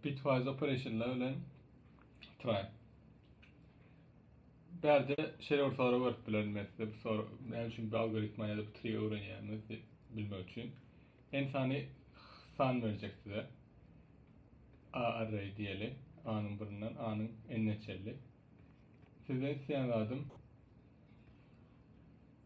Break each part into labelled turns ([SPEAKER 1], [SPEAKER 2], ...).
[SPEAKER 1] Bitwise operationlar bilen try. Bärde şeýle bir soru berip bilerin men size bu soru näme üçin bir algoritma ýa-da bir tri öwrenýämiz diýip bilmek üçin. En sany san berjek size. A array diýeli. A-nyň birinden A-nyň n-ne çenli. Sizden isleýän zadym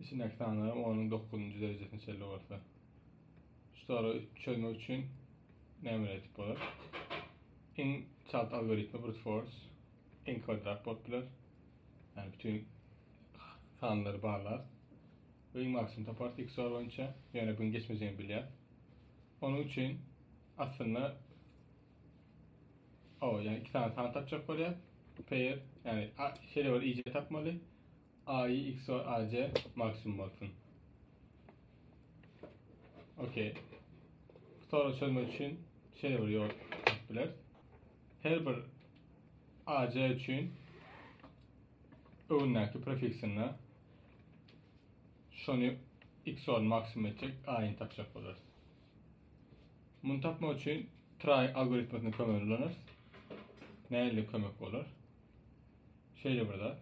[SPEAKER 1] Içindäki sanlaryň onuň dokuzynjy derejesine çenli bolsa. Şu soragy çözmek üçin nämeler etip bolar? Iň çalt algoritmi brute force, iň kwadrat bolup biler. Yani bütün sanları bağlar. Ve iň maksimum tapar tek soru boyunca. Yani bunu geçmeyeceğini biliyor. Onun için aslında Hawa, ýa iki sany san tapjak bolýar. Pair, ýagny a, şeýle bir ij tapmaly. AI, XOR, AJ maksimum bolsun. Okey. Soru çözmek üçin şeýle bir ýol bileris. Her bir AJ üçin öňündäki prefiksinde şony XOR maksimum etjek A-ni tapjak bolarys. Muny tapmak üçin try algoritmini kömegini ulanarys. Näle kömek bolar? Şeýle bir zat.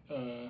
[SPEAKER 1] Ee,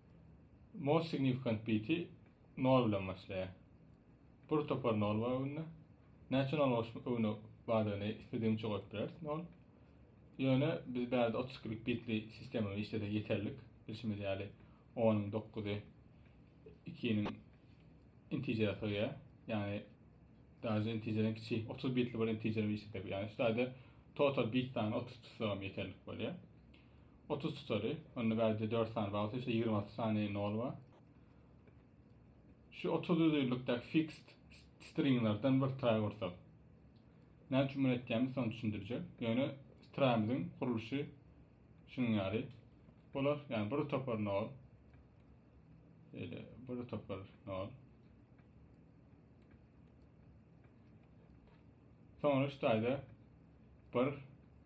[SPEAKER 1] Most signifikant biti nol bilen başlaýar. Bir topar nol bar öňünde. Näçe nol bolsa öňüne bardygyny istedigiňçe goýup bileris nol. Ýöne biz bärde 32 lik bitli sistema işlesek ýeterlik. Bilşimiz ýaly 10-yň 9-y 2-niň intijerä sygýar. Ýagny daže intijeriň kiçi 30 bitli bir intijer işlesek, ýagny şu ýerde total bit sany 30 tutsagam ýeterlik bolýar. 30 tutary. Onda bärde 4 sany bar bolsa, işte 26 sany nol bar. Şu 30 düzülikdäki fixed stringlerden bir try ursak. Näme üçin bunu etýämiz, şony düşündirjek. Ýöne strimiziň gurluşy şunuň ýaly. Bular, ýani bir topar nol. Şeýle bir topar nol. Soňra şu taýda bir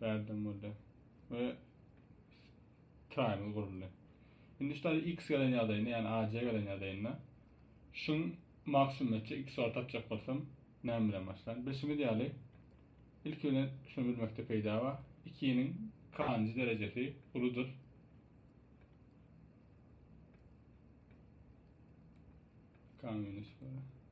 [SPEAKER 1] Bärdem boldy. Ve triangle guruldy. Şimdi işte x gelen ýagdaýynda, yani AC gelen ýagdaýynda şun maksimum etjek, x bar tapjak bolsam näme bilen başlan? Bilşimiz ýaly ilki bilen şunu bilmekde peýda bar. 2-niň kanjy derejesi uludyr. K minus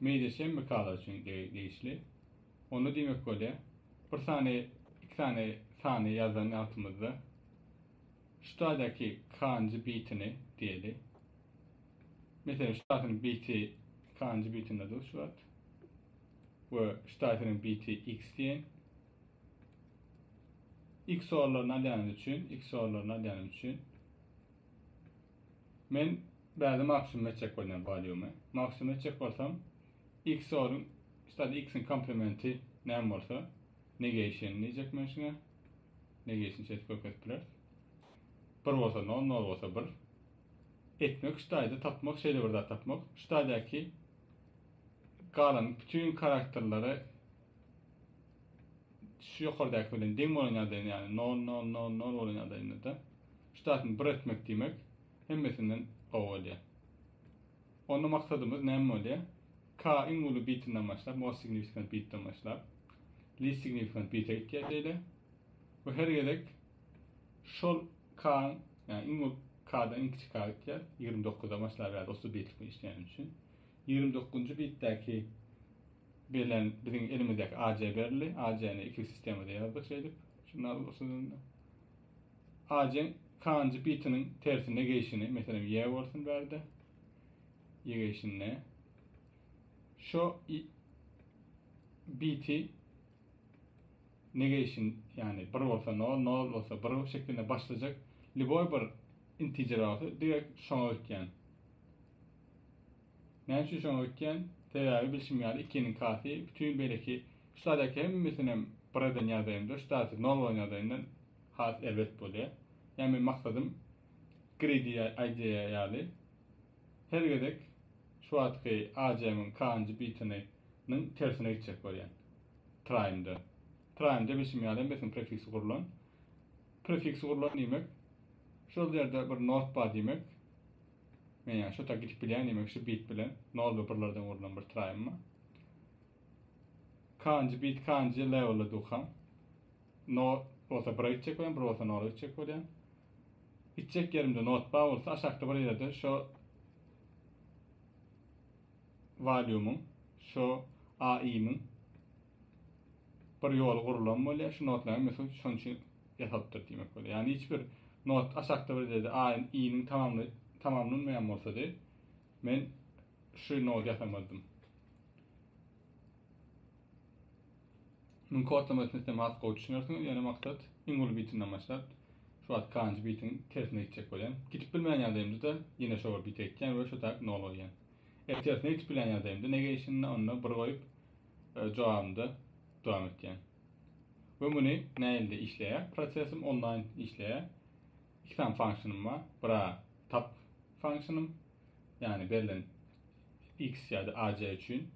[SPEAKER 1] Media şemikalar üçin degişli. Onda diýmek bolýar, bir sany, iki sany sany ýazan wagtymyzda şu taýdaky kanji bitini diýeli. Meselem, şu taýdakynyň biti kanji bitinde dur şu wagt. We şu taýdakynyň biti x diýen. X orlaryny alýanymyz üçin, x orlaryny alýanymyz üçin Men bärde maksimum etjek bolýan waliumy. Maksimum etjek bolsam, XOR-yň, stady X-iň komplementi näme bolsa, negation diýjek men şuňa. Negation şeýdip görkezip bileris. Bir bolsa nol, nol bolsa bir. Etmek stady tapmak, şeýle bir zat tapmak. Stadydaky galan bütin karakterleri şu ýokardaki bilen deň bolan ýagdaýynda, ýagny 0 0 0 0 bolan ýagdaýynda-da şu taýpyny 1 etmek diýmek hemmesinden gowy bolýar. Onda maksadymyz näme bolýar? K iň uly bitinden başlap, most significant bitden başlap, least significant bite gitýär şeýle. Bu her gezek şol K, ýagny iň uly K-dan iň kiçi K gitýär. 29-da başlap ýa-da 30 bitlik işleýän üçin. 29-njy bitdäki Belen biziň elimizdäki AJ berildi. AJ-ni iki sistemada ýazdyk şeýdip. Şunda usulynda. AJ-iň kanjy bitiniň tersine geýşini, meselem, Y bolsun bärde. Y geýşinde. Şo biti negation yani 1 bolsa 0, 0 bolsa 1 şeklinde başlayacak. Liboy bir integer olsa direkt şoňa ötýän. Näme üçin şoňa öýtýän? Sebäbi bilşim ýaly ikiniň kasy bütin beýleki şu saýdaky hemmesinem bir eden ýagdaýymda şu saýty nol bolan ýagdaýyndan has erbet bolýar. Ýa men maksadym greedy aýdýar ýaly her gezek şu wagtky AJM-iň kanjy bitini nyň tersine gitjek bolýan. Traýmda. Traýmda bilşim ýaly hemmesiniň prefiksi gurlan. Prefiksi gurlan diýmek şol ýerde bir not bar diýmek. Men ýa şota gidip bilýän diýmek şu bit bilen 0 we 1 lerden gurlan bir traýym bar. Kanji bit kanji leveli dukan. No bolsa 1 gitjek bolýan, 1 bolsa 0 gitjek bolýan. Gitjek ýerimde not bar bolsa aşakda bir ýerde şu Valiumyň, şu AI'miň bir ýoly gurlan bolýar. Şu notlaryň hemmesi şonuň üçin ýasapdyr diýmek bolýar. Ýagny hiç bir not aşakda bir ýerde A-yň, I-niň tamamly tamamlanmaýan bolsady, men şu nody ýasamazdym. Muň kodlamasyny siz has gowy düşünersiňiz, ýöne maksat iň uly bitinden başlap, şu wagt kanjy bitiň tersine gitjek bolýan. Gidip bilmeýän ýagdaýymda-da ýene şo bir bite gitýän we şu tak nol goýýan. Eger tersine gidip bilýän ýagdaýymda ne gelişinde onda bir goýup, e, jogabynda dowam etýän. We muny näilde işleýär? Prosesim onlaýn işleýär. Iki sany funksiýanym bar. Bira tap funksiýanym, ýagny berlen x ýa-da aj üçin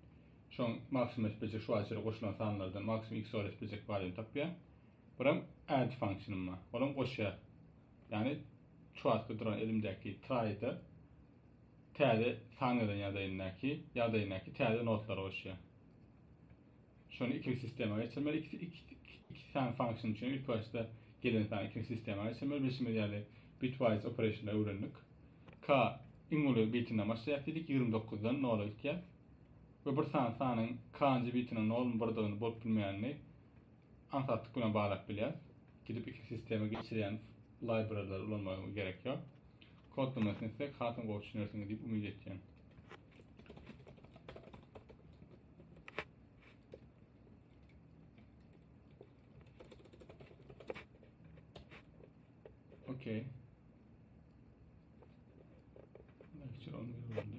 [SPEAKER 1] şoň maksimum etbejek şu açyra goşulan sanlardan maksimum x ol etbejek baryny tapýar. Biram add funksiýanym bar. Olam goşýar. Ýagny şu wagtky duran elimdäki try-da Täze sahnadan ýadaýyndaky, ýadaýyndaky täze notlary goşýar. Şony ikinji sistema geçirmeli. Iki, iki, iki, iki sany function üçin ilk başda gelen sany ikinji sistema geçirmeli. Bilşimiz ýaly bitwise operationda öwrendik. K iň uly bitinden başlaýar diýdik, 29-dan 0-a gitýär. We bir sany sanyň k-njy bitiniň 0-my birdygyny bolup bilmeýänini Aňsatlyk bilen baglap bilýäris. Gidip iki sistema geçirýän library-lary ulanmaga gerek ýok. Kodlamasyny etsek hasam gowy düşünersiňiz diýip umyt etýän. Okey. Lecture 11 oldu.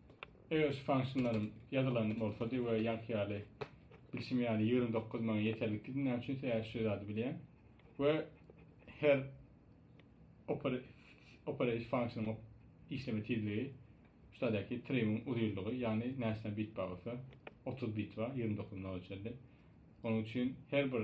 [SPEAKER 1] Eger şu function-larym ýazylan bolsady we ýaňky ýaly bilşim ýaly ýigrimi dokuz maňa ýeterlikdi näme üçin sebäbi şu zady bilýän we her operate function işleme tizligi şudaky triming uzynlygy ýagny näçe bit bar bolsa 30 bit bar 29 nol ölçerli onuň üçin her bir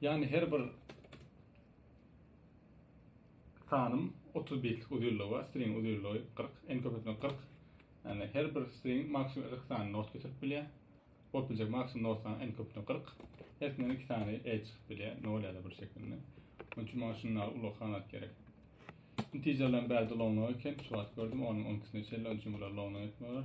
[SPEAKER 1] Yani her bir sanym 30 bitlik uzunlygy bar, string uzunlygy 40, en köp etmek 40. Yani her bir string maksimum 40 sany not getirip bilýär. Bolup biljek maksimum not sany en köp etmek 40. Hepsinden 2 sany e çykyp bilýär, 0 ya da 1 şeklinde. Onun için bana şunlar ulag hanat gerek. Integerlerin bädi long long eken, şu wagt gördüm, onun 12 sine çelle, onun için bular long long etmeler.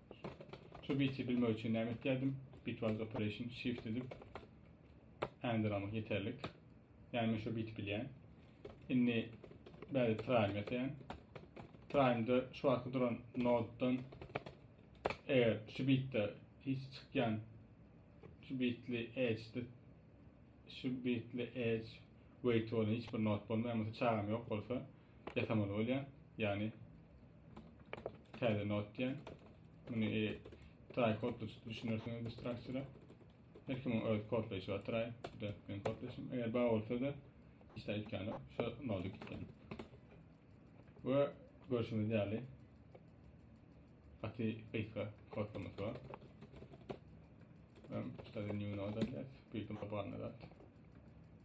[SPEAKER 1] Şu biti bilmek üçin näme etýärdim? Bitwise operation shift edip ändin almak ýeterlik. Ýani men şu biti bilýän. Indi bäri try etýän. Try-da şu wagtky duran noddan eger şu bitde hiç çykýan şu bitli edge şu bitli edge wait bolan hiç bir nod bolmaýan bolsa çagam ýok bolsa Etamol bolýar, ýagny täze not diýen. Muny e, try kodda düşünersiňiz bu struktura. Her kimiň öz kodlaýşy bar try. Bu da men kodlaýşym. Eger bar bolsa da hiç aýtýan ýok. Şu nody gitgen. We görşüňiz ýaly gaty gysga kodlamasy bar. Hem şu da new node diýýär. Bu ýerde barna zat.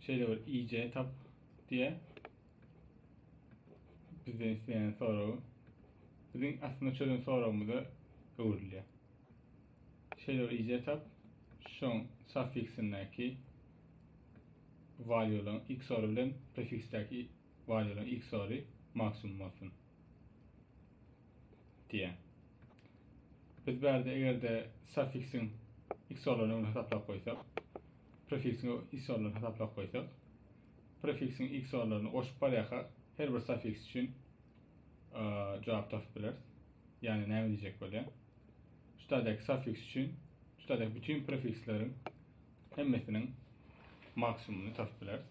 [SPEAKER 1] Şeýle bir IJ tap diýýär. Bizden isleýän soragy biziň aslynda çözen soragymyza öwrülýär. Şeýle bir IJ tap şoň suffiksindäki valýu olan x ory bilen prefiksdäki valýu olan x ory maksimum bolsun. Diýýär. Biz bärde eger-de suffiksiň x orlaryny öňüne hasaplap goýsak, Prefiksiň x ornuny hasaplap goýsak. Prefiksiň x ornuny goşup barýarka her bir safiks üçin jogap tapyp bileris. Ýagny näme diýjek bolýar? Şu taýdaky safiks üçin şu taýdaky bütin prefiskleriň hemmesiniň maksimumyny tapyp bileris.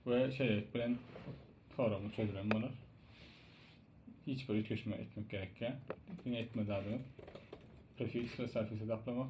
[SPEAKER 1] Ve şeýlelik bilen soragyň çözülen bolar. Hiç bir üýtgeşme etmek gerekýär. Diňe etme zadyňyz prefiks ve safiks hesaplamak.